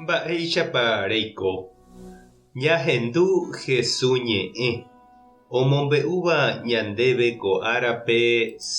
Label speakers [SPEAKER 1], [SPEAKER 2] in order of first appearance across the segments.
[SPEAKER 1] Mba'éichapa reiko ñahendu Jesús ñe'ẽ omombe'úva ñandéve ko árape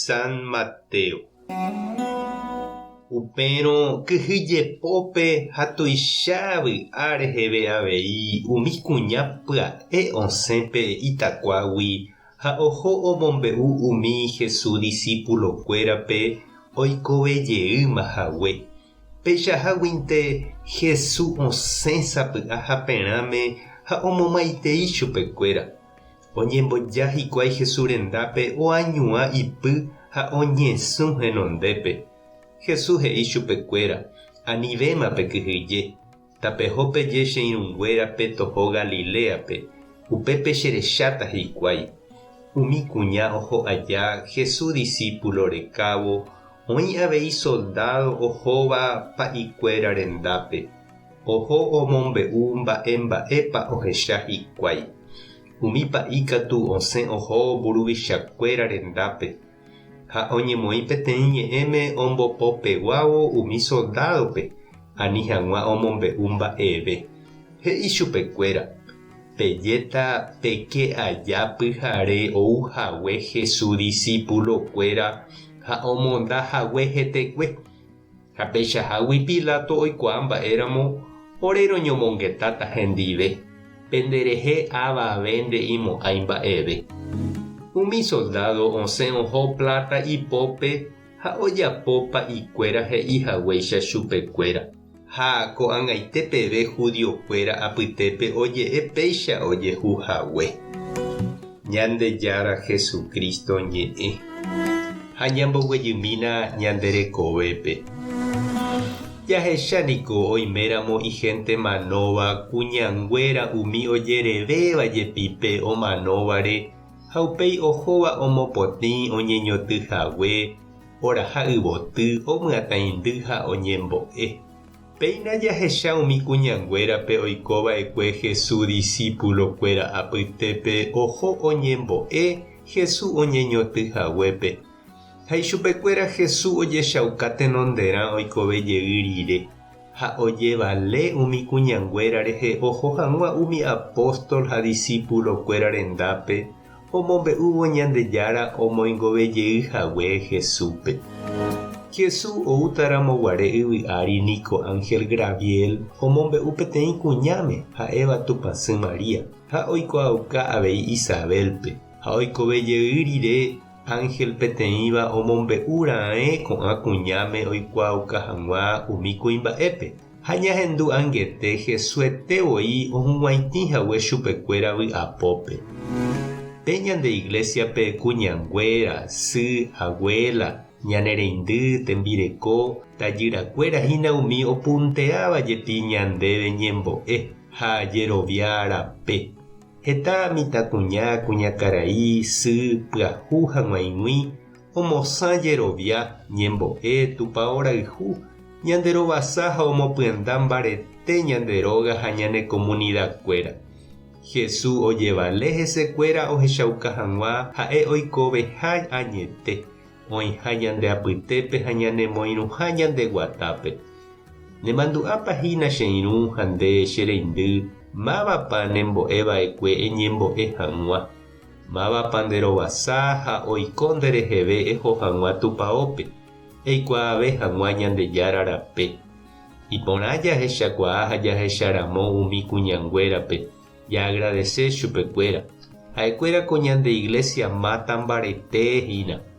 [SPEAKER 1] San Mateo? Upérõ kyhy jepópe ha tuicha vy'a reheve avei umi kuña pya'e osẽ pe itakuágui ha oho omombe'u umi Jesús disípulokuérape oikove jeýma hague. Peichaháguinte Hesu osẽ sapy'a haperãme ha omomaitei chupekuéra. Oñemboja hikuái Hesu rendápe oañuã ipy ha oñesũ henondépe. Hesu he'i chupekuéra, Anivéma pekyhyje. Tapeho peje che irũnguéra pe toho Galiléape, upépe cherecháta hikuái. Umi kuña oho aja Jesús disípulo rekávo, oĩ avei soldádo ohóva pa'i kuéra rendápe. Oho omombe'u mba'e mba'épa ohecha hikuái. Umi pa'i katu osẽ oho mburuvicha kuéra rendápe, ha oñemoĩ peteĩ ñe'ẽme ombopopeguávo umi soldádope ani hag̃ua omombe'u mba'eve, he'i chupekuéra, Pejéta peke aja pyhare ou hague Hesu disipulokuéra ha omonda hague hetekue, Ha peichahágui Pilato oikuaa mba'éramo ore roñomongetáta hendive, penderehe ava ave nde'imo'ãi mba'eve. Umi soldádo osẽ oho pláta ipópe ha ojapo pa'ikuéra he'i haguéicha chupekuéra. Ha ko'ag̃aite peve judiokuéra apytépe oje'e péicha ojehu hague. Ñandejára Jesucristo ñe'ẽ, ha ñamboguejymína ñande rekovépe. Jahecha niko oiméramo igénte manóva kuñanguéra umi ojerevéva jepi pe omanóvare ha upéi ohóva omopotĩ oñeñoty hague, oraha yvoty, omyatãindy ha oñembo'e. Péina jahecha umi kuñanguérape oiko va'ekue Jesús disípulokuéra apytépe oho oñembo'e Jesús oñeñotỹ haguépe. Ha ichupekuéra Jesús ojechauka tenonderã oikove jey rire, ha ojevale umi kuñanguéra rehe oho hag̃ua umi apóstol ha disípulokuéra rendápe, omombe'úvo Ñandejára omoingove jey hague Jesúspe. Jesús oútaramo guare yvy ári niko ánhel Graviel omombe'u peteĩ kuñáme, ha'éva Tupãsy María, ha oikuaauka avei Isabélpe. Ha oikove jey rire, ánhel peteĩva omombe'u raẽ ko'ã kuñáme oikuaauka hag̃ua umi kuimba'épe. Ha ñahendu angete hesuete voi ohug̃uaitĩ hague chupekuéra vy'apópe. Pe ñande iglésiape kuñanguéra, sy, aguéla, ñane reindy, tembireko, tajyrakuéra hína umi opunteáva jepi ñandéve ñembo'e ha jerovia rape. Heta mitãkuña, kuñakarai, sy, pyahu hag̃uaig̃ui omosã jerovia ñembo'e Tupao rayhu, ñande rovasa ha omopyenda mbarete ñande róga ha ñane komunidakuéra. Hesu ojevale hesekuéra ohechauka hag̃ua ha'e oikoveha añete, oĩha ñande apytépe ha ñanemoirũha ñande guatápe. Nemandu'ápa hína che irũ ha nde che reindy, mávapa nembo'e va'ekue eñembo'e hag̃ua. Mávapa nde rovasa ha oiko nde reheve eho hag̃ua Tupaópe, eikuaave hag̃ua Ñandejára rape. Iporã jahechakuaa ha jahecharamo umi kuñanguérape, jaagradese chupekuéra. Ha'ekuéra ko ñande iglésia máta mbarete hína.